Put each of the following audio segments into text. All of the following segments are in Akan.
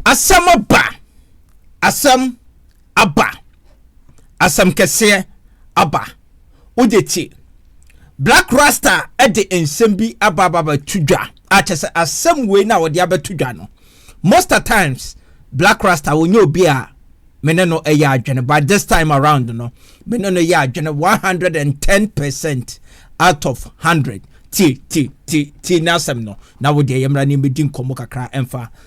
Asɛm aba! Asɛm aba! Asɛm kɛseɛ aba! Wogye te? Blaq Rasta de nsɛm bi aba aba abɛto dwa a kyɛ sɛ asɛm wei na wɔde abɛto dwa no most at times Blaq Rasta wɔnyɛ obi a me ne no ɛyɛ adwene but this time around no me ne no yɛ adwene 110 percent out of 100 ti ti ti ti n'asɛm no na wode ɛyɛ mmara ne mmɛdi nkɔmmɔ kakra ɛmfa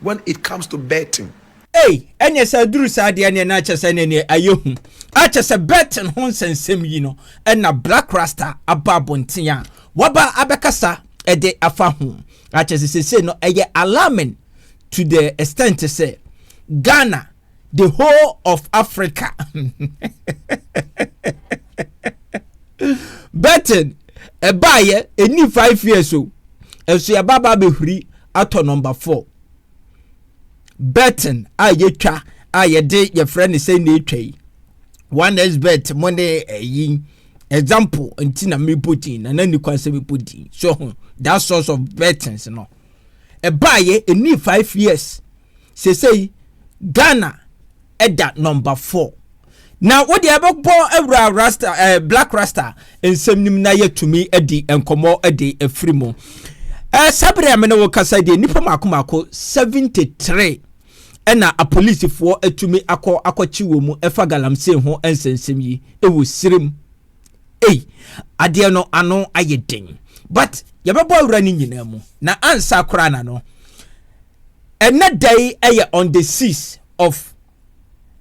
when it comes to betting. Ei, ɛneɛ sɛ aduru saa deɛ neɛ na kyɛ sɛ neɛ neɛ ayɛ hu. A kyɛ sɛ betting ho nsɛnsɛm yi no ɛna Black Rasta aba abɔnten a waba abɛkasa ɛde afa ho. A kyɛ sɛ sesei no ɛyɛ alarming to the extent sɛ Ghana the whole of africa betting ɛbaayɛ ɛni five years o ɛso yɛba ba bɛhuri atɔ number four betting a yɛtwa a yɛde yɛfrɛ no sɛ na ɛtwa yi one is bet mo ne ɛyi eh, example nti na mebɔ din na na ni kwan sɛ mebɔ din so ho that source of bettings no ɛbaayɛ ɛni five years Seesei Ghana da number four. Na wo deɛ bɛbɔ awura rasta ɛɛ eh, black rasta nsɛm nim na yɛtumi adi nkɔmɔ de afiri mu. Ɛɛ eh, sabere a mene wo kasa deɛ nipa mako mako seventy three ɛna apolisifoɔ atumi akɔ akɔkye wɔn mu ɛfa galamsey ho nsɛnsɛm yi ɛwɔ sirim. Ei, adeɛ no ano ayɛ den but yɛbɛbɔ awura no nyinaa mu na ansa koraa na no Ɛnnɛ da yi yɛ on the six of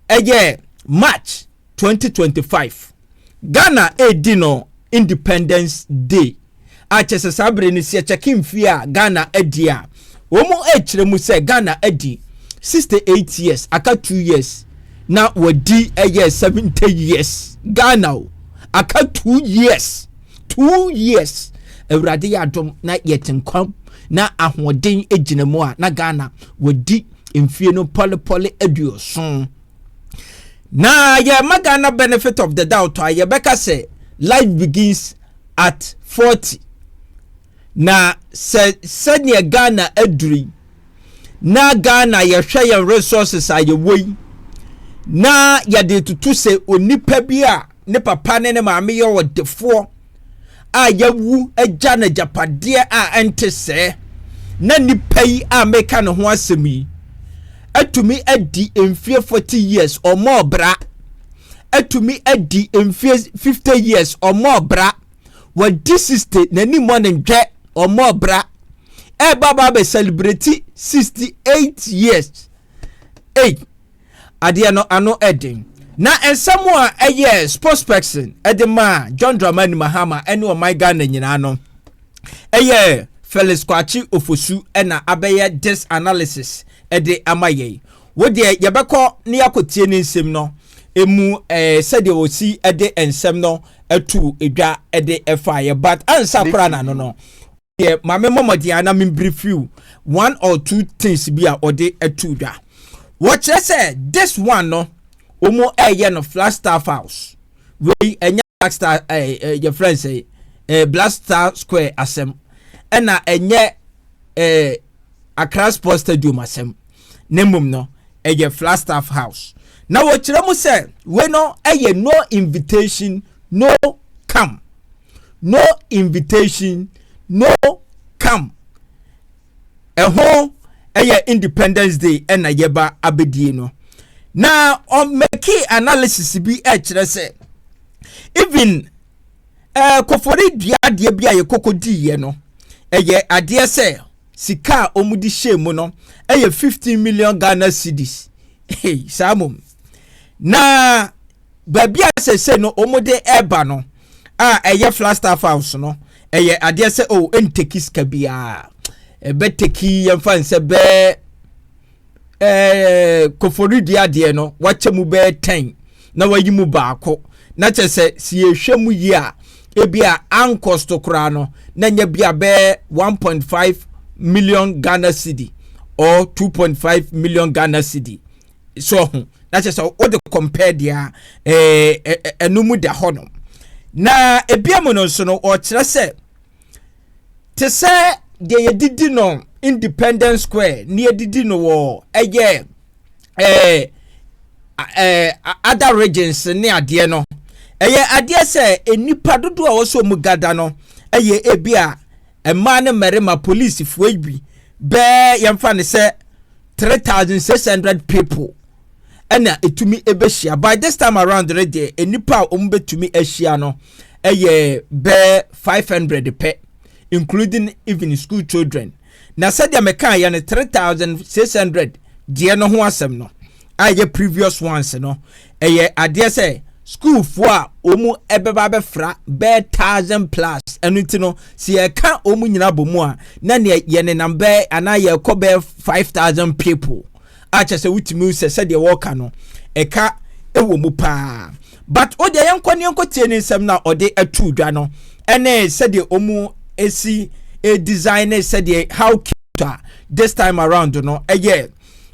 ɛyɛ March twenty twenty five. Ghana redi no Independence Day a kyɛ sɛ saa bere no sɛ yɛkyɛke mfie a Ghana adi a wɔn rekyerɛ mu sɛ Ghana adi sixty eight years aka two years na wɔdi ɛyɛ seventy years Ghana o aka two years. two years awurade yɛ adom na yɛte nkwa na ahoɔden gyina mu a na ghana wɔdi mfie no pɔlepɔle aduoson na yɛma ghana benefit of the doubt a yɛbɛka sɛ life begins at 40 na sɛ sɛdeɛ ghana aduri na ghana yɛhwɛ yɛn resources a yɛwɔ yi na yɛde tutu sɛ onipa bi a ne papa ne ne maame yɛ ɔdefoɔ a yawu agya no agyapadeɛ a ɛnte sɛɛ na nipa yi a meka ne ho asɛm yi atumi adi mfie 40 years ɔmɔ ɔbra atumi adi mfie 50 years ɔmɔ ɔbra wɔdi 60 n'ani mmɔ ne ndwɛ ɔmɔ ɔbra ɛba ba bɛ celebrate 68 years ei Adeɛ no ano den. Na nsɛm a ɛyɛ spokesperson de maa John Dramani Mahama ne ɔman Ghana nyinaa no, ɛyɛ Felix Kwakye Ofosu na abɛyɛ this analysis de ama yɛn. Wo deɛ yɛbɛkɔ na yɛakɔtie ne nsɛm no emu ɛɛ eh, sɛdeɛ wɔsi de nsɛm no ato dwa de ɛfaeɛ but ansa koraa na no no deɛ ma me mmɔmɔden a na me mbiri few one or two things bi a ɔde atu dwa wɔkyerɛ sɛ this one no wɔn ɛyɛ no flat star files wei ɛnyɛ black star ɛɛ ɛɛ yɛ fɛn sɛ ɛɛ black star square asɛm ɛna ɛnyɛ ɛɛ akra sports stadium asɛm ne mmom no ɛyɛ flat star house na wɔkyerɛ mu sɛ wei no ɛyɛ no invitation no come. no invitation no come ɛho ɛyɛ independence day ɛna yɛba abɛdie no na ɔmɛki analysis bi ɛkyerɛ sɛ even ɛɛ eh, kofori dua adeɛ bi a yɛ koko diiɛ no ɛyɛ adeɛ sɛ sika a wɔde hyɛ mu no ɛyɛ fifteen million ghana cedis saa mom na baabi a sɛ sɛ no wɔde ɛreba no. a ɛyɛ Flagstaff House no, ɛyɛ adeɛ sɛ o oh, ɛnteki sika biara ɛbɛteki yɛmfa nsɛ bɛɛ ɛɛ koforidua adeɛ no wakyɛ mu bɛɛ tɛn na wayi mu baako na kyɛ sɛ si yɛhwɛ mu yi a ebi a ankɔsto koraa no na nyɛ bi a bɛɛ 1.5 million Ghana cedi or 2.5 million Ghana cedi so ɔho na kyerɛ sɛ wode compare deɛ a ɛɛ eh, eh, ɛno mu da hɔ no na ebia mu no nso no ɔkyerɛ sɛ te sɛ deɛ yɛdidi no independence square ne yɛdidi no wɔ ɛyɛ ɛɛ ɛɛ other regions ne adeɛ no ɛyɛ adeɛ sɛ nnipa dodoɔ a wɔsɔ mu gada no ɛyɛ ebi a. mmaa ne mmarima polisifoɔ yi bi bɛɛ yɛmfa no sɛ three thousand six hundred people ɛna ɛtumi ɛbɛhyia by this time around no deɛ nnipa a wɔn bɛtumi ahyia no ɛyɛ bɛɛ five hundred pɛ including even school children na sɛdeɛ mekaeɛ no three thousand six hundred deɛ no ho asɛm no a ɛyɛ previous ones no ɛyɛ adeɛ sɛ sukuufoɔ a wɔn ɛbɛba abɛfra bɛɛ thousand plus ɛno nti no sɛ yɛka wɔn nyinaa bɔ mu a na neɛ yɛnenam bɛɛ anaa yɛrekɔ bɛɛ five thousand people akyɛ sɛ wotumi sɛ sɛdeɛ wɔreka no ɛka ɛwɔ mu paa but o deɛ yɛnkɔ ne yɛnkɔ tie ne nsɛm na ɔde ato dwa no ɛne sɛdeɛ wɔn esi design ne sɛdeɛ how cute a this time around no ɛyɛ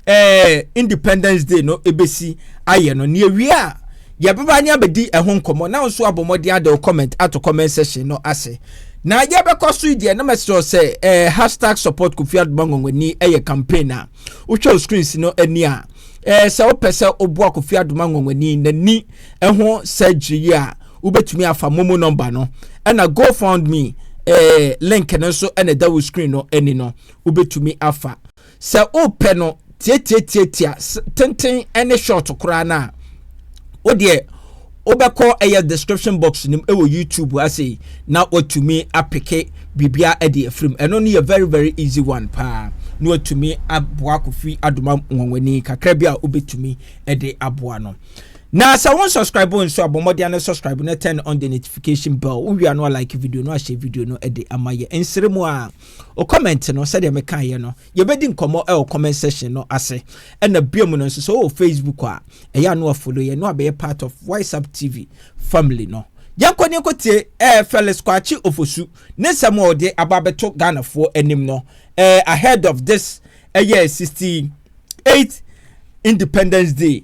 ɛɛ independence day no ebesi ayɛ no nea wie a yɛbɛba ne abɛdi ɛho nkɔmɔ na nso abɔ mmɔden ada comment ato comment section no ase na yɛbɛkɔ so deɛ na mɛsrɛ sɛ ɛɛ hashtag support kofi adoma nwonwani ɛyɛ campaign a wotwa screens no ani a ɛɛ sɛ wopɛ sɛ woboa kofi adoma nwonwani n'ani ɛho surgery yi a wobɛtumi afa momo number no ɛna go found me ɛɛ link no nso ɛna ɛda wo screen no ani no wobɛtumi afa Sɛ wopɛ no tiatiatiatia tenten ne short koraa no a, wo deɛ wobɛkɔ ɛyɛ description box nim ɛwɔ YouTube ase na watumi apeke biribia ɛde afirim. Ɛno no yɛ very very easy one paa na watumi aboa Kofi Adoma Nwanwani kakra bi a wobɛtumi ɛde aboa no. Na sɛ wɔn subscribe nso abɔ mmɔden ano subscribe na turn on the notification bell. Wowia no a like video no ahyɛ video no ɛde ama yɛ nsere mu a Wo comment no, sɛdeɛ mekaeɛ no, yɛbɛdi nkɔmmɔ wɔ comment section no ase. Ɛna biom no nso, sɛ wowɔ Facebook a, ɛyɛ a na wafollow yɛn na wabɛyɛ part of Wiseup TV family no. Yɛnkɔ ne yɛnkɔ tie eh, Felix Kwakye Ofosu ne nsɛm a ɔde aba abɛto Ghanafoɔ anim no eh, ahead of this ɛyɛ eh, 68 Independence Day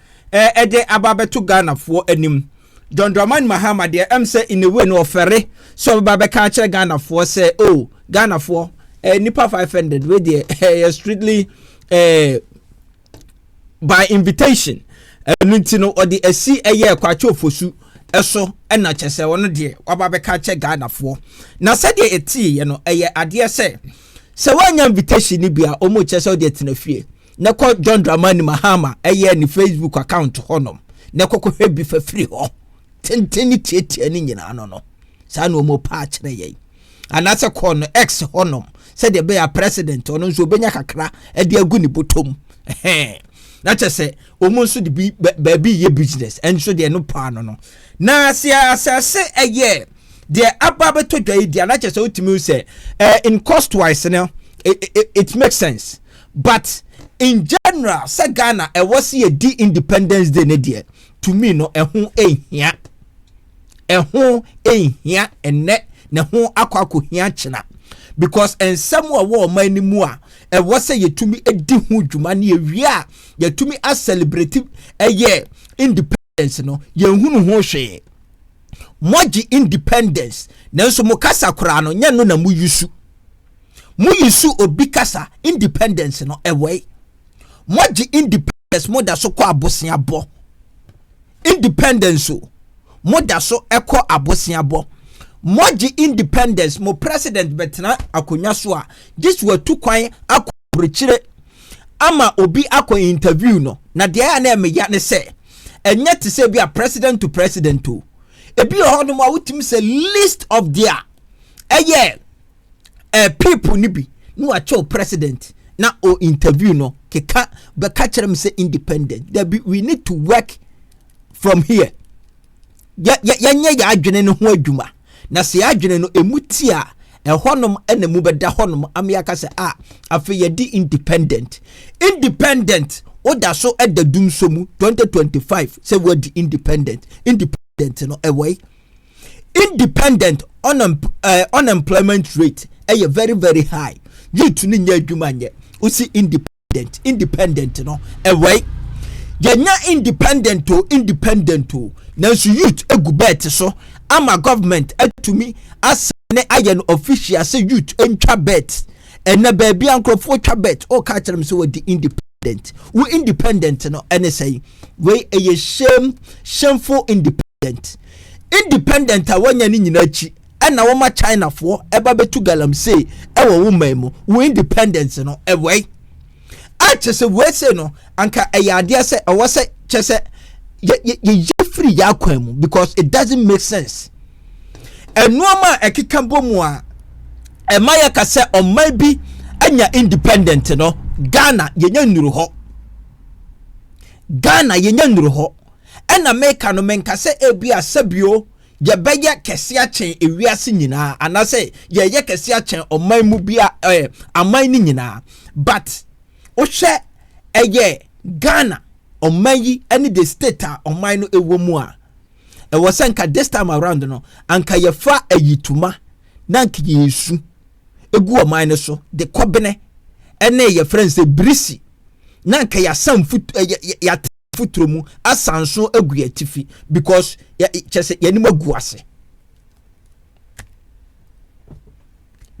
eh, ɛdeɛn aba abɛto Ghanafoɔ anim. John Dramani Mahama deɛ ɛm sɛ in a way no ɔfɛre sɛ ɔbɛba bɛka akyerɛ Ghanafoɔ sɛ oh Ghanafoɔ eh, nipa 500 wei deɛ ɛyɛ eh, strictly eh, by invitation ɛno nti no ɔde asi ɛyɛ kwakye ofosu ɛso ɛna kyɛ sɛ ɔno deɛ waba bɛka kyɛ ghanafoɔ na sɛdeɛ ɛteeɛ no ɛyɛ adeɛ sɛ sɛ woanya invitation no bi a ɔmu kyɛ sɛ wode atena fie na kɔ John Dramani Mahama ɛyɛ ne Facebook account hɔnom na kɔkɔhwɛ bi fa firi hɔ tenten ne tiatia ne nyinaa no no saa na wɔn paa kyerɛ yɛn anaasɛ kɔɔ no X hɔnom sɛdeɛ ɛbɛyɛ a president ɔno nso obɛnya kakra de agu ne bɔtɔm ɛhɛn na kyɛ sɛ wɔn nso de bi baabi yɛ business ɛnso deɛ no paa no no na sɛ asase ɛyɛ deɛ aba bɛtɔ dwa yi deɛ na kyɛ sɛ wotumi sɛ eh, in cost wise no it, it, it makes sense But in general sɛ Ghana ɛwɔ se yɛdi independence day ne deɛ to me no ɛho nhia. Ɛho nhia ɛnɛ na ɛho akɔ akɔhia kyena because nsɛm a ɛwɔ ɔman no mu a ɛwɔ sɛ yɛtumi di ho dwuma ne yɛwie a yɛtumi acelebrate ɛyɛ independence independence no yɛnhunu ho hwee moagye independence nanso mo kasa koraa no nyɛ no na mo yusu mo yusu obi kasa independence no ɛwɔe moagye independence mo da so kɔ aboseabɔ independence o mo da so ɛkɔ aboseabɔ moagye independence mo president bɛtena akonnwa so a gye so atu kwan akɔ aburokyire ama obi akɔ interview no na deɛ ɛyɛ na ɛmeya ne sɛ ɛnyɛ te sɛ bi a president to president o ebi wɔ hɔ nom a wotumi sɛ list of their ɛyɛ eh, people no bi na wakyɛw president na o interview no keka bɛka kyerɛ m sɛ independent dabi we need to work from here yɛnyɛ yɛ adwene no ho adwuma Na sɛ yɛadwene no ɛmu ti a, ɛhɔnom na mu bɛda hɔnom ama yɛaka sɛ a afei yɛde independent independent woda so da dum so mu 2025 sɛ woadi independent independent no ɛwɔe independent eh, unemployment rate ɛyɛ very very high youth no nyɛ adwuma nyɛ wosi independent independent independent no ɛwɔe yɛnya independent o independent o nanso youth egu bɛɛt so ama government atumi asa ne ayɛ no official sɛ youth ntwa bɛɛt ɛnna baabi a nkurɔfoɔ twa bɛɛt ɔka kyerɛ m sɛ wɔdi independent wo independent no ɛne sɛn wei ɛyɛ shame shameful independent independent independent a wanya ne nyinaa akyi ɛna wɔma chinafoɔ ɛba bɛtu galamsey ɛwɔ wo man mu wo independence no ɛwɔi a kyɛ sɛ wɔɛsɛ no anka ɛyɛ adeɛ sɛ ɛwɔ sɛ kyɛ sɛ yɛyɛ firi yɛ akwan mu because it doesn't make sense ɛnoɔma a ɛkeka bɔ mu a ɛma yɛka sɛ ɔman bi anya independent no ghana yɛnya nnuru hɔ ghana yɛnya nnuru hɔ Ɛna meka no, menka sɛ ebia sɛbio yɛbɛyɛ kɛse akyɛn ewiase nyinaa anaasɛ yɛyɛ kɛse akyɛn ɔman mu bia ɛɛ aman no nyinaa but wohwɛ ɛyɛ Ghana ɔman yi ɛne the state a ɔman no ɛwɔ mu a ɛwɔ sɛ nka this time around no anka yɛfa ayituma na nka yɛsu egu ɔman no so de kɔbene ɛne yɛfrɛ nsɛ birisi na nka yɛasam futu yɛate foforɔ mu asan so agu yɛn atifi because kyerɛ sɛ yɛnim agu ase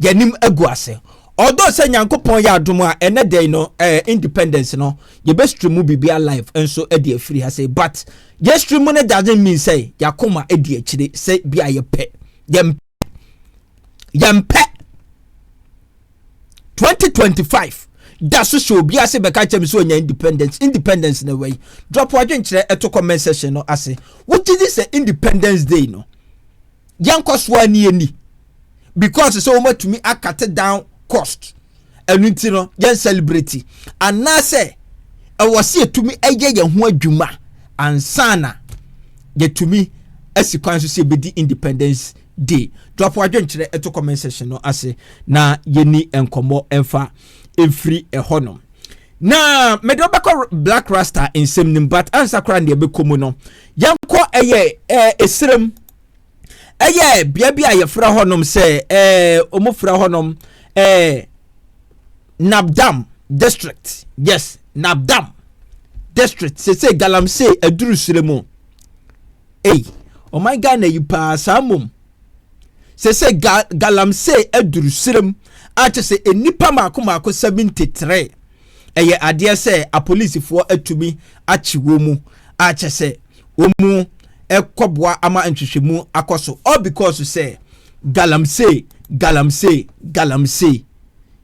yɛnim agu ase ɔdɔ sɛ nyankopɔn yɛ adom a ɛnɛ dɛn no eh, independence no yɛbɛstri mu biribia life nso de afiri ha sɛ but yɛstri mu no doesn't mean sɛ yɛakoma di akyire sɛ bi a yɛpɛ yɛmpɛ yɛmpɛ twenty twenty five da so hyɛ obi ase bɛka kyɛm sɛ ɔnya independence independence na wɛyi drop adwenkyerɛ ɛto comment section no ase wogye di sɛ independence day no yɛnkɔ so a ne yɛni because sɛ wɔmatumi akate down cost ɛno nti no yɛn celebrate anaasɛ ɛwɔ sɛ yɛtumi ɛyɛ yɛn ho adwuma ansana yɛtumi asi kwan so sɛ yɛbɛdi independence de Dwapo Adwenkyerɛ ɛto comment section no ase na yɛni nkɔmmɔ ɛmfa ɛmfiri ɛhɔ nom. Na mede wobɛkɔ Black Rasta nsɛm nim but ansa koraa deɛ bɛkɔ mu no yɛnkɔ ɛyɛ ɛserem ɛyɛ bea bi a yɛfrɛ hɔ nom sɛ ɔmo frɛ hɔ nom Nabdam district yes Nabdam district sese galamsey aduru serem mu Ei ɔman Ghana yi paa saa mmom sese ga galamsey aduru serem akyɛ sɛ nnipa maako maako 73 ɛyɛ adeɛ sɛ apolisifoɔ atumi akye wɔ mu akyɛ sɛ wɔ mu ɛkɔboa ama nhwehwɛmu akɔ so all because sɛ galamsey galamsey galamsey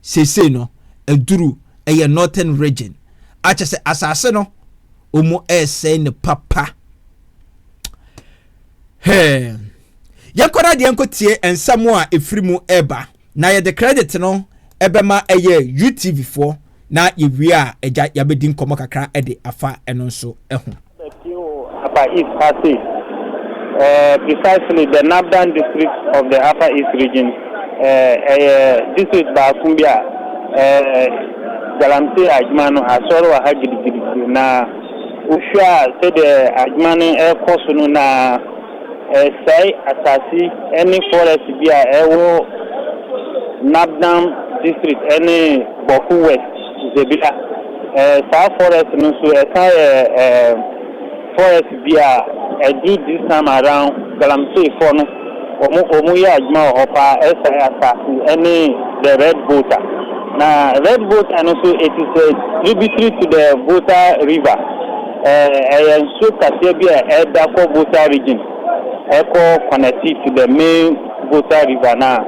sese no aduru ɛyɛ northern region akyɛ sɛ asase no ɔmu ɛresɛe no papa hɛɛ yɛnkɔ no adeɛ nkɔtie nsɛm a ɛfiri mu ɛreba na yɛde credit no ɛbɛma ɛyɛ utv foɔ na yɛwie a agya yɛabɛdi nkɔmmɔ kakra ɛde afa ɛno nso ɛho Teo Upper East ha sei, eh, precisely the Nabdan district of the Upper East region, eh, ɛyɛ district baako bi a, eh, Galamsey adwuma no asɔre wɔ ha gidigidi, na wohwɛ a sɛdeɛ adwuma no ɛrekɔ so no na ɛresɛe asase ne forest bi a ɛwɔ Nabdan district ne Bawku West. Zebila. Ɛɛ, saa forest no nso, ɛsan yɛ ɛɛ forest bi a ɛduru this time around Galamsey foɔ no, wɔn wɔn yɛ adwuma wɔ hɔ paa, ɛsan asaase ɛne the red volta. Na red volta no nso it is a tributary to the volta river. Ɛɛ, ɛyɛ nsuo kaseɛ bi a ɛda kɔ volta region ɛkɔ connect to the main. Volta River no a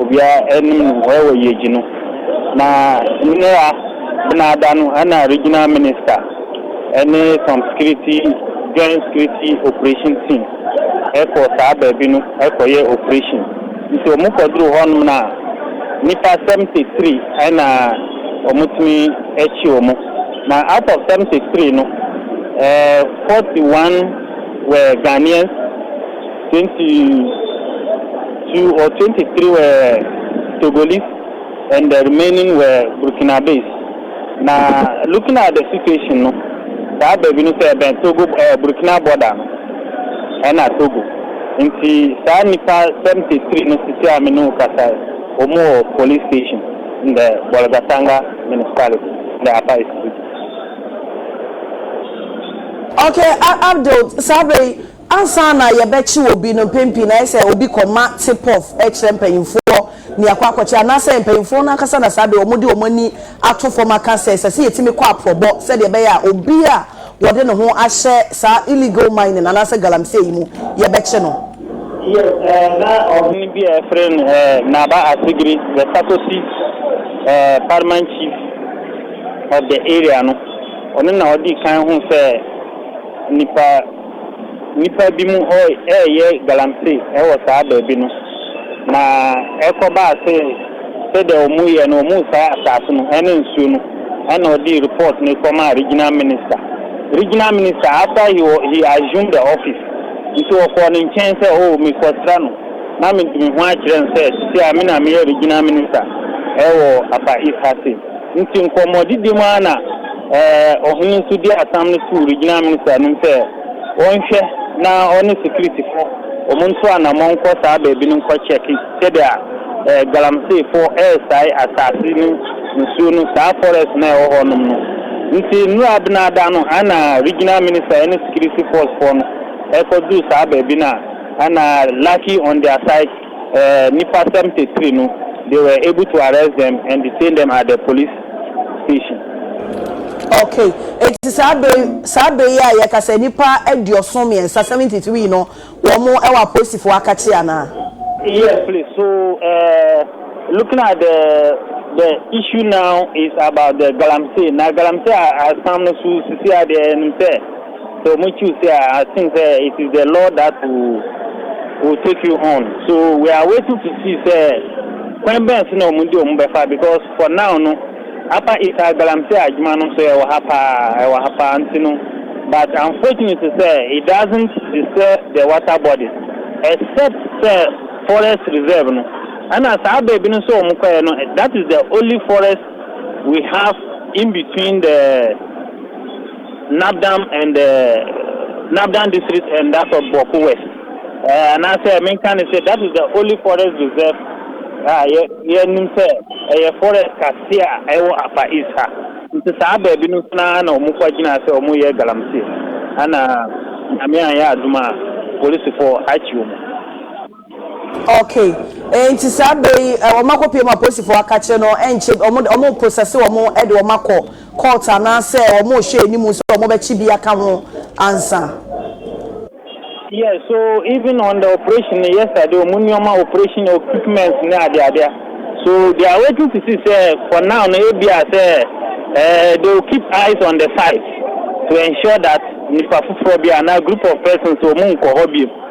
obiara nim no hɔ wɔ Yeji no, na nnɛra Benada no na Regional Minister ne some security Joint Security Operation Team kɔɔ saa baabi no kɔyɛɛ operation. Nti wɔn kɔduruu hɔnom no a, nnipa 73 na wɔtumi kye wɔn, na out of 73 no, 41 were Ghanaians, Twenty two or twenty three were Togolese and the remaining were Burkinabes. Na looking at the situation no, saa baabi no sɛ ɛbɛn Togo ɛɛ Burkina border no ɛna Togo. Nti saa nnipa seventy three no sisi a me ne wo kasa yi, wɔn wɔ police station in the Bolgatanga municipality in the Upper East region. Okay, Abdul, saa bere yi, Ansa na yɛbɛkye obi no, mpɛn pii no ayɛ sɛ obi kɔma tip-off kyerɛ mpanyimfoɔ nea akɔ akɔkyɛ, anaasɛ mpanyimfoɔ no ankasa na saa bere wɔde wɔn ani ato fam aka sɛ ɛsɛ sɛ yɛtumi kɔ aporɔbɔ sɛdeɛ ɛbɛyɛ a obi a wɔde ne ho ahyɛ saa illegal mining anaasɛ galamsey yi mu, yɛbɛkye no. Ná ɔhene bi a wɔfrɛ no Naba Asegiri, the Sakosi Paramount Chief of the area no, ɔno na ɔdii kan huu sɛ nnipa. Nnipa binom reyɛ galamsey wɔ saa baabi no, na ɛkɔbaa sɛ sɛdeɛ wɔreyɛ no, wɔresae asase no ne nsuo no, ɛnna wɔde report no kɔmaa regional minister. Regional minister, after he wa he assumed the office, nti wɔkɔɔ ne nkyɛn sɛ, oh, mekɔsra no, na mede me ho akyerɛ no sɛ seesei ara me na meyɛ regional minister wɔ Upper East ha sei. Ntsi nkɔmbɔdidi mu ara na ɔhen no so dii asɛm no too regional minister no mu sɛ ɔnhwɛ na ɔne securityfo wɔn nto anamɔn nkɔ saa baabi no nkɔ kyɛke sɛdea Galamseefo resae asaase no nsuo no saa forest no a ɛwɔ hɔ nom no. Ntsi nnura abenada no ana regional minister ɛne security force foɔ no ɛkɔduru saa baabi no a ana lucky on their side. Nipa seventy three no, they were able to arrest them and detain them at the police station. Okay, enti saa bere saa bere yi a yɛkasa nnipa aduɔson mmiɛnsa seventy three no wɔn mo ɛwɔ apolisifo akakye anaa? Yes please, so uh, looking at the the issue now is about the galamsey na galamsey asam no so sisi adeɛ ɛnim sɛ. Sɛ ɔmo choose a I think sɛ it is the Lord that will will take you on so we are waiting to see sɛ kwan bɛn so na ɔmo de ɔmo bɛfa because for now no Upper East ha galamsey adwuma no nso ɛwɔ ha paa ɛwɔ ha paa nti no but unfortunately sɛ it doesn't disturb the water bodies except sɛ forest reserve no ɛna saa baabi no nso ɔmo kɔɛ no that is the only forest we have in between the Nabdam and Nabdam district and that of Bawku West eh, anaasɛ menka ne sɛ that is the only forest reserve a yɛ yɛnim sɛ ɛyɛ forest kɛseɛ a ɛwɔ Afar East ha. Nti saa baabi no nso no ara na wɔn fa gyina sɛ wɔn yɛ galamsey. Ɛna Nyame anyɛ adom a polisifɔɔ akyi wɔn. Okay eh, nti saa berɛ yi eh, wɔn akɔpie mu a polisifɔɔ aka kyerɛ no ɛnkyɛ wɔn wɔn process wɔn ɛde wɔn akɔ court anaasɛ wɔrehyɛ anim sɛ wɔbɛkye bi aka ho ansa. Yes so even on the operation no yesterday wɔn nneɛma operation equipment ne adeade a so they are waiting to see sɛ for now no ebi a sɛ eh, they will keep eyes on the site to ensure that nipa foforɔ bi anaa group of persons wɔn nkɔ hɔ bio.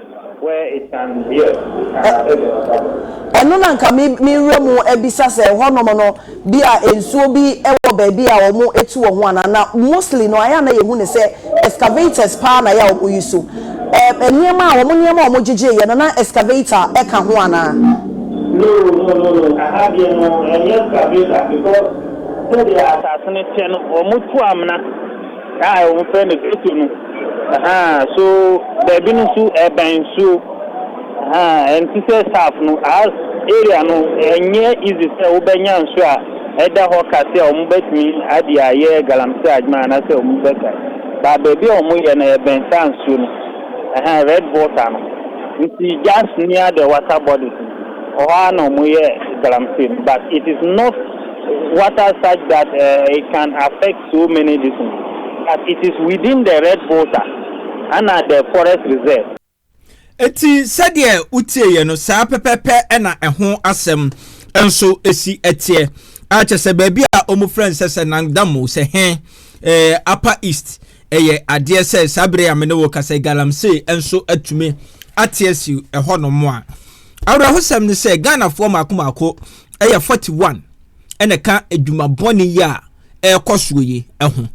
Where is San Miguel? Ɛ, ɛno na nka me, mewura mu abisa sɛ ɛhɔnom no, bi a nsuo bi wɔ baabi a wɔtu wɔ ho anaa? Na mostly no, ayɛ a na yɛhu no sɛ excavators paa na ayɛ a wɔyi so. Ɛ, nneɛma a, wɔn nneɛma a wɔgyegyeeɛ no, na excavator ka ho anaa? No, no, no, no, aha deɛ no, ɛnyɛ excavator because sɛdeɛ asase no teɛ no, wɔtu amena. A wɔfrɛ no Ghetto no, ahaa, so baabi no nso ɛbɛn nsuo, ahaa, ɛnte sɛ South no, aa, area no ɛnyɛ easy sɛ wobɛnya nsuo a ɛda hɔ ka sɛ wɔbɛtumi ade ayɛ galamsey adwuma anaasɛ wɔbɛka, but baabi a wɔyɛ no ɛbɛn saa nsuo no, ahaa, red water no, nti just near the water bodies no, hɔ ara na wɔyɛ galamsey no, but it is not water such that it can affect. so many reasons but it is within the red volta ana the forest reserve. Enti sɛdeɛ wotieeɛ no saa pɛpɛpɛ na ɛho asɛm nso si teɛ. A kyɛ sɛ baabi a wɔfrɛ no sɛ sɛ Nangdamo sɛ he eh, Upper East ɛyɛ adeɛ sɛ saa bere a me ne wo ka sɛ Galamsey nso atumi ate asi ɛhɔnom a. Awerɛhosɛm ne sɛ Ghanafoɔ mmaako mmaako ɛyɛ 41. na ɛka adwuma bɔne yi a ɛrekɔ soɔ yi ho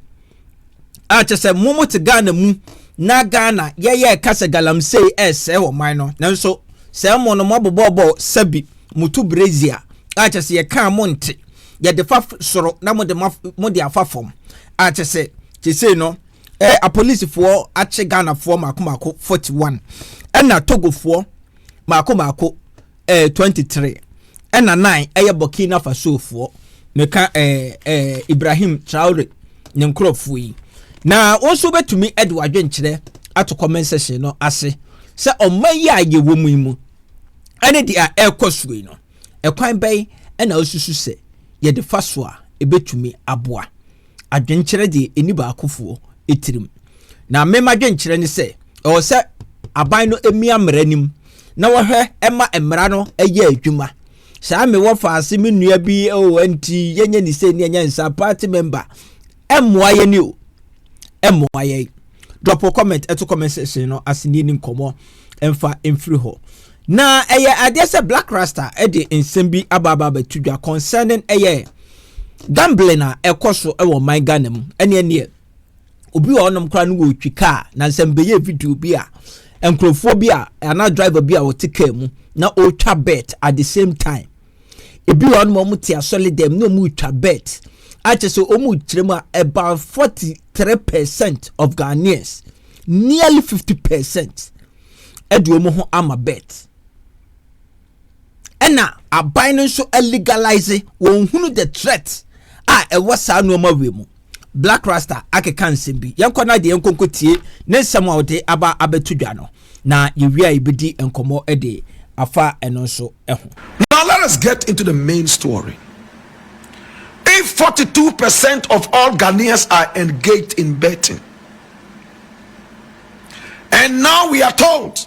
a kyɛ sɛ mo mo te ghana mu na ghana yɛyɛ ɛka sɛ galamsey ɛresɛe ɔman no nanso sɛ mo no mo abobɔbɔ sɛbi mo to brazia a kyɛ sɛ yɛka mo nte yɛde fa soro na mo de ma mo de afa fam a kyɛ sɛ kyɛ sei no ɛɛ apolisifoɔ akye ghanafoɔ mako mako forty one ɛna togofoɔ mako mako eh, 23 ɛna 9 ɛyɛ burkina fasofoɔ meka eh, eh, ibrahim traore ne nkurɔfoɔ yi na wɔn nso bɛtumi de wadwenkyerɛ ato comment section no ase sɛ ɔma yi a yɛwɔ mu yi mu ɛne deɛ ɛrekɔ soɔ yi no ɛkwan bɛn ɛna ɔsusu sɛ yɛde fa so a ɛbɛtumi aboa adwenkyerɛ deɛ ɛni baakofoɔ tirim. Na me m'adwenkyerɛ ne sɛ ɛwɔ sɛ aban no mmia mmara nim na wɔhwɛ ɛma mmara no ɛyɛ adwuma. Saa me wɔ faase me nua bi o oh, nti yɛnyɛ ne sɛ ni ɛnyɛ nsa party member ɛmmoa yɛ ni o ɛmmoa yɛ drop a comment ɛto comment section no ase ni nkɔmɔ ɛmfa mfiri hɔ na ɛyɛ adeɛ sɛ black rasta ɛde nsɛm bi abaaba abɛto dwa concerning ɛyɛ Gambling a ɛkɔ so wɔ man Ghana mu ɛne ɛneɛ obi wɔ ɔnom koraa no wɔretwi kaa na nsɛm bɛyɛ video bi a nkurɔfoɔ bi a anaa driver bi a ɔte kaa mu na ɔretwa bet at the same time ebi wɔ ɔnom ɔmo te asɔre dɛm na ɔmo retwa bet akyɛ sɛ ɔmo kyerɛ mu a about forty three percent of Ghanaians nearly fifty percent ɛde ɔmo ho ama bet. ɛna aban no nso legalize wɔn hunu the threat a ɛwɔ saa nneɛma wei mu black rasta akeka nsɛm bi yɛnkɔ na deɛ yɛnkɔ nkɔ tie ne nsɛm a ɔde aba abɛto dwa no na yɛwie a yɛbɛdi nkɔmmɔ de afa ɛno nso ho. now let us get into the main story if 42 percent of all ghanaians are engaged in betting and now we are told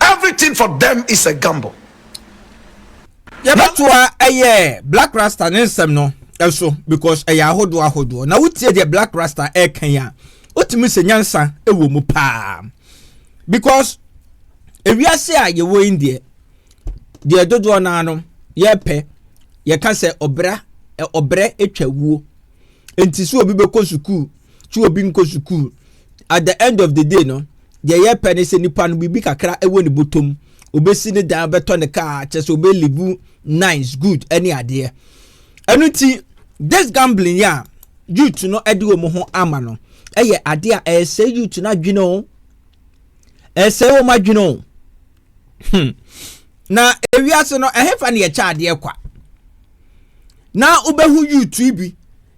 Everything for them is a gamble. Yɛbɛtoa ɛyɛ Black Rasta ne nsɛm no ɛso because ɛyɛ ahodoɔ ahodoɔ na wotie deɛ Black Rasta ɛka yi a wotumi sɛ nyansa ɛwɔ mu paa because ewiase a yɛwɔ yi deɛ deɛ dodoɔ naa no yɛpɛ yɛka sɛ ɔbra ɔbrɛ atwa wuo nti sɛ obi bɛkɔ sukuu twe obi nkɔ sukuu at the end of the day no deɛ yɛpɛ ne sɛ nipa no biribi kakra ɛwɔ ne bɔtɔm obɛsi ne dan bɛtɔ ne kaa kyɛ sɛ obɛlive nice good ɛne adeɛ ɛno nti this gambling yɛ a youth no ɛde wɔn ho ama no ɛyɛ adeɛ a ɛsɛ youth no adwene o ɛsɛ wɔn adwene o hmm. na ewiase no ɛhefa ne yɛkyɛ adeɛ kwa na wobɛhu yutu bi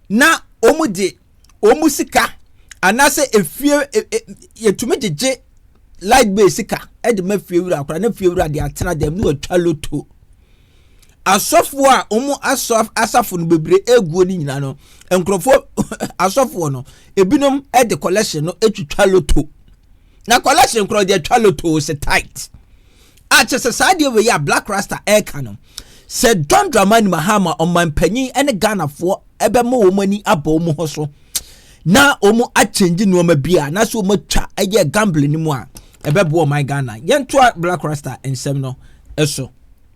na wɔn de wɔn sika anaasɛ efie e, e, yɛtumi gyegye light bill sika de ma fie wura akora na fie wura de atena dɛm na watwa loto asɔfoɔ a wɔn asɔ asafo no bebree eguo no nyinaa no nkurɔfoɔ asɔfoɔ no ebinom de collection no twitwa loto. na collection korɔ deɛ twa lotoo sɛ tight a kyɛ sɛ saa deɛ wei a black rasta ɛreka no sɛ john dramani mahama ɔmanpanyin ne ghanafoɔ ɛbɛma wɔn ani abɔ wɔn ho so na wɔn akyɛngye nneɛma bi a na so wɔn atwa ɛyɛ gambling no mu a ɛbɛboa ɔman ghana yɛntoa black rasta nsɛm no so.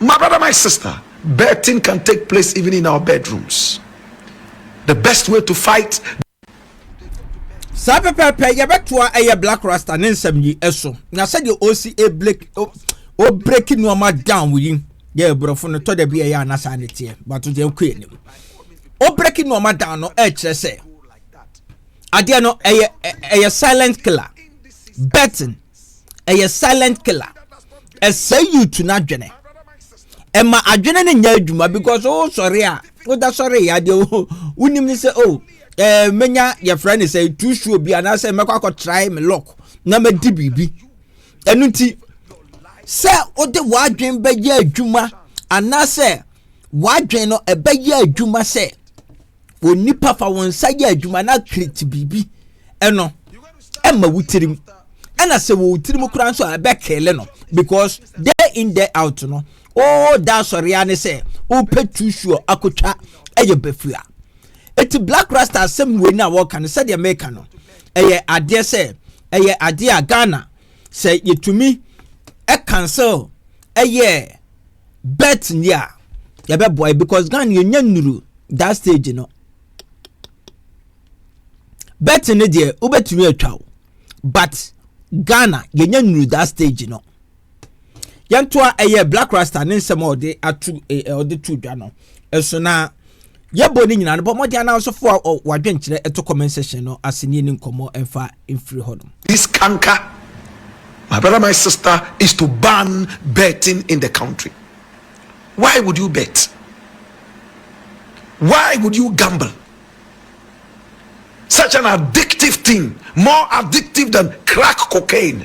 My brother, my sister, birthing can take place even in our bedrooms. The best way to fight. saa pɛpɛɛpɛ yɛbɛtoa ɛyɛ black rasta ne nsɛm yi ɛso na sɛdeɛ ɔsi ɛbreki ɔbreki nneɛma down yi yɛ aborɔfo no tɔ da bi ɛyɛ anasa ne teɛ bato deɛ nkɔ anim ɔbreki nneɛma down no ɛkyerɛ sɛ adeɛ no ɛyɛ ɛyɛ silent killer betting ɛyɛ silent killer ɛsɛe youth no adwene ɛma adwene no nyɛ adwuma because wo sɔre a woda sɔre yɛ adeɛ wo wonim ne sɛ o ɛɛ menya yɛfrɛ ne sɛ tu suo bi anaasɛ mɛkɔ akɔ try me lock na mɛdi biribi ɛno nti sɛ wode w'adwene bɛyɛ adwuma anaasɛ w'adwene no ɛbɛyɛ adwuma sɛ onipa fa wɔn nsa yɛ adwuma na kiriti biribi ɛno ɛma wo tirim ɛna sɛ wɔ tirim koraa nso a ɛbɛ kele no because day in day out no o da asɔrea ne sɛ o pɛ tu suo akotwa ɛyɛ bɛfua eti black rasta asɛm wei na wɔka no sɛdeɛ meka no ɛyɛ adeɛ sɛ ɛyɛ adeɛ a ghana sɛ yɛtumi cancel ɛyɛ bet ni a yɛbɛboa yi because Ghana yɛnya nnuru that stage no bet no deɛ wobɛtumi atwa wo but Ghana yɛnya nnuru that stage no Yɛntoa ɛyɛ Blaq Rasta ne nsɛm a ɔde ato ɛ ɔde to dwa no ɛso na yɛbɔ ne nyinaa no bɔ mmɔden anansefo a wadwenkyerɛ ɛto comment section no ase ne yɛni nkɔmmɔ ɛmfa mfiri hɔ nom. This kanka my brother my sister is to ban betting in the country why would you bet why would you gamble such an addictive thing more addictive than crack cocaine.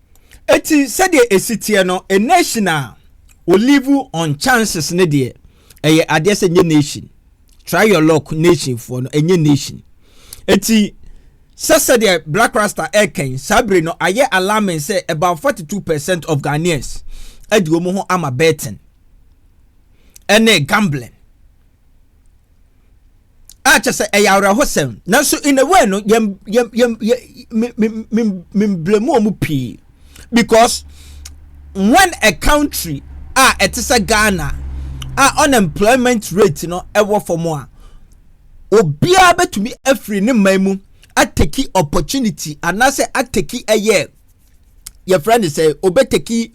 Eti sɛdeɛ esi teɛ no, a nation a olive on chances ne deɛ ɛyɛ adeɛ sɛ nye nation. Try your luck nation foɔ no ɛnyɛ nation. Eti sɛ sɛdeɛ black rasta ɛkɛn saa bere no ayɛ alarming sɛ about 42 percent of Ghanaians ɛde wɔn ho ama betting ɛne gambling. a kyɛ sɛ ɛyɛ awerɛhosɛm nanso in a way no yɛn yɛn yɛn yɛn memblemu wɔn pii because when a country a ɛte sɛ ghana a unemployment rate no ɛwɔ fam a obiara bɛtumi afiri ne mman mu ateki opportunity anaasɛ ateki ɛyɛ yɛfrɛ no sɛ obeteki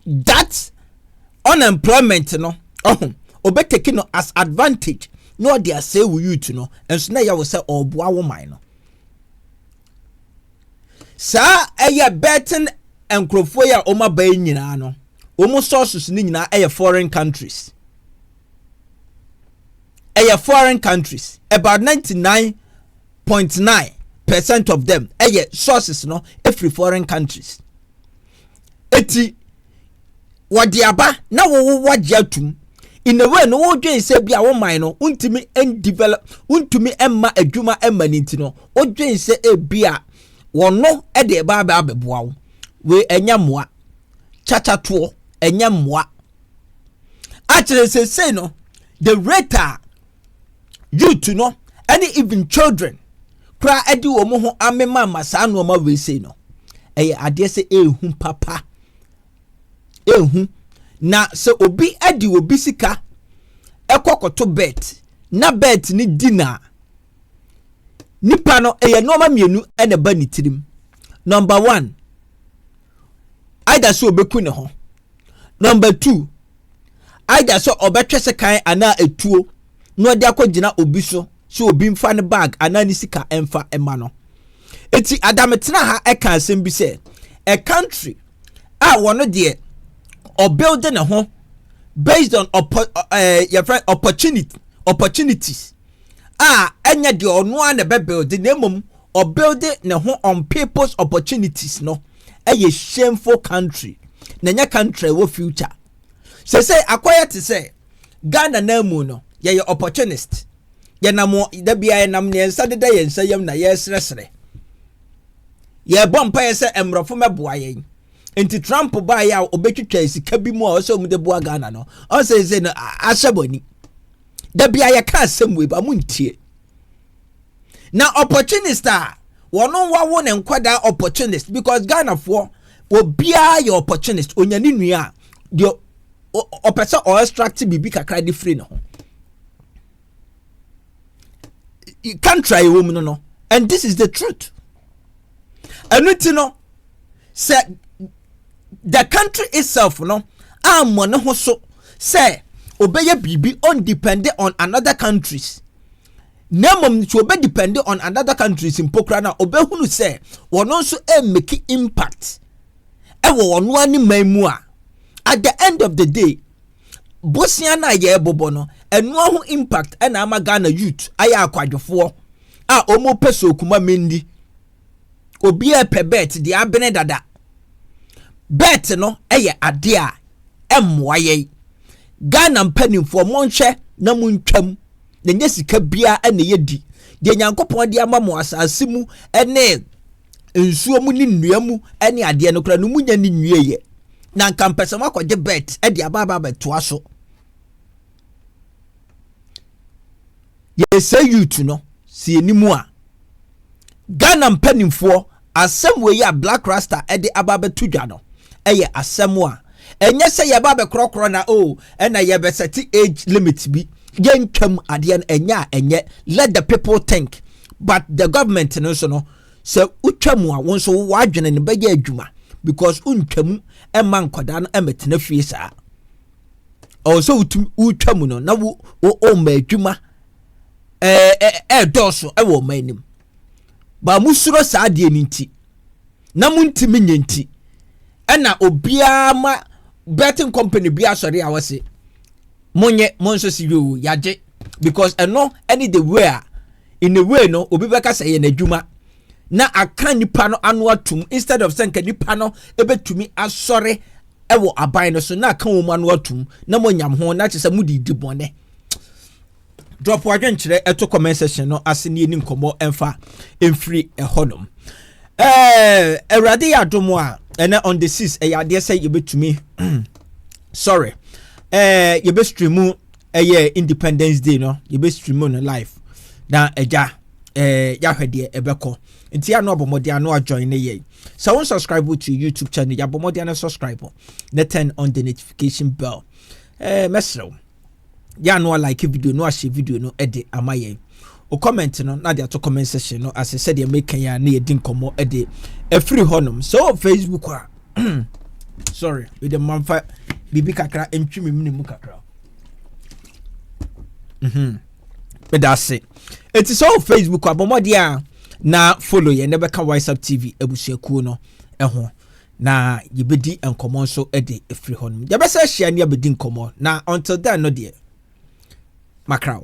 that unemployment no ɔho obeteki no as advantage na ɔde asɛe wo youth no nso na ɛyɛ wo sɛ ɔreboa wo man no saa ɛyɛ betting nkurɔfoɔ yi a wɔn aba yi nyinaa no wɔn sources no nyinaa ɛyɛ foreign countries ɛyɛ foreign countries about ninety nine point nine percent of them ɛyɛ sources no ɛfiri foreign countries ɛti wɔde aba na wɔwɔ wagye atum in a way no wodwen sɛ bi a wo man no wontumi develop wontumi mma adwuma mma ne nti no wodwen sɛ ebi a wɔno de ɛba abɛboa wo wei ɛnyɛ mmoa kyakyatoɔ ɛnyɛ mmoa akyerɛ sesei no the rate a youth no ɛne even children koraa ɛde wɔn ho amemama saa nneɛma wei sei no ɛyɛ adeɛ sɛ ehu papa ehu na sɛ obi ɛde obi sika ɛkɔ kɔto bet na bet ne di na nipa no ɛyɛ nneɛma mmienu ɛna ɛba ne tirim number one. either sɛ ɔbɛku ne ho number two either sɛ ɔbɛtwɛ sɛ kan anaa etuo na ɔde akɔgyina obi so sɛ obi mfa ne bag anaa ne sika mfa mma no eti adametena ha ɛka asɛm bi sɛ a country a wɔn deɛ ɔbuild ne ho based on oppo ɛɛ yɛfrɛ opportunity opportunities a ɛnyɛ deɛ ɔno ara na ɛbɛ build na mmom ɔbuilde ne ho on people's opportunities no yɛ shameful country na ɛnyɛ country ɛwɔ future sɛsɛ akɔyɛ te sɛ Ghana na mu no yɛyɛ opportunist yɛnam da bia yɛnam ne nsa deda yɛn nsa yam na yɛresrɛsrɛ yɛbɔ mpaeɛ sɛ mmorɔfo mɛboa yɛn nti Trump baeɛ a ɔbɛtwitwa sika bi mu a ɔsɛ ɔmo de boa Ghana no ɔsɛ sɛ no ahyɛ bɔ ani da bia yɛka asɛm wei ba mo ntie na opportunist a wɔn wawo ne nkwadaa opportunist because Ghana ghanafoɔ obiara yɛ opportunist onya ne nua a deɛ ɔpɛ sɛ ɔ extract biribi kakra de firi ne ho country a yɛwɔ mu no no and this is the truth ɛno ti no sɛ the country itself no ammɔ ne ho so sɛ obɛyɛ biribi on depend on another countries na mmom nso obe depend on another countries mpo koraa na obehunu sɛ wɔn nso mmeki impact ɛwɔ wɔn ara ne man mu a at the end of the day bosia no a yɛrebobɔ no ɛnoa ho impact ɛna ama ghana youth ayɛ akwadwofoɔ a wɔn pɛ so okuma mendi obiara pɛ bet deɛ abene dada bet no ɛyɛ adeɛ a ɛmmoa yɛn ghana mpanimfoɔ monhwɛ na montwam yɛnyɛ sika biara na yɛdi deɛ nyankopɔn de ama mo asase mu ne nsuo mu ne nnua mu ne adeɛ no koraa no mu nya ne nwieɛ na nka mpɛ sɛ moakɔgye bet de abaaba abɛtoa so yɛsɛ youth no sɛ yɛni mu a ghana mpanimfoɔ Asɛm wei a Blaq Rasta de aba abɛto dwa no yɛ asɛm a ɛnyɛ sɛ yɛba abɛkorɔkorɔ na o ɛna yɛbɛsɛte age limit bi yɛntwam adeɛ no ɛnyɛ a ɛnyɛ let the people think but the government no nso no sɛ wotwam a wo nso wowɔ adwene no bɛyɛ adwuma because wontwam ɛma nkwadaa no ɛmɛtena fie saa ɔwɔ sɛ wotum wotwam no na wo ɔma adwuma ɛɛdɔɔso ɛwɔ ɔma anim Ba mosuro saa adeɛ no nti na montimi nyɛ nti ɛna obiara ma betting company bi asɔre a wɔse monyɛ mo nso se yoo yagye because ɛno ɛne the way a in a way no obi bɛka sɛ yɛ n'adwuma na aka nipa no ano atum instead of sɛ nka nipa no ɛbɛtumi asɔre ɛwɔ aban no so na aka wɔn ano atum na mo nyam ho na kyerɛ sɛ mo de di bɔne drop adwenkyerɛ ɛto comment section no ase ne yɛni nkɔmmɔ ɛmfa ɛmfiri ɛhɔ nom ɛɛ awurade yɛ adom a ɛnɛ on the six ɛyɛ adeɛ sɛ yɛbɛtumi sorry ɛɛ yɛbɛstreamu ɛyɛ independence day no yɛbɛstreamu no live na ɛgya ɛɛ yɛahwɛ deɛ ɛbɛkɔ nti ano abɔmmɔden ano ajoin ne yɛn sɛ wo subscribe to youtube channel yɛabɔmmɔden no subscribe na turn on the notification bell ɛɛ mɛserɛ wo yɛ a na walike video no ahyɛ video no de ama yɛn o comment no na de ato comment section no ase sɛdeɛ meka yi a na yɛdi nkɔmmɔ de afiri hɔnom sɛ wɔ facebook a sorry mede mamfa biribi kakra ntwi me mene mu kakra mhm. meda ase ɛti sɛ wɔ facebook a bɔmmɔdeɛ a na follow yɛn na bɛka whatsapp tv abusuakuo no ho na yɛbɛdi nkɔmmɔ nso de afiri hɔ nom yɛbɛsɛ ahyia ne abɛdi nkɔmmɔ na until then no deɛ makraw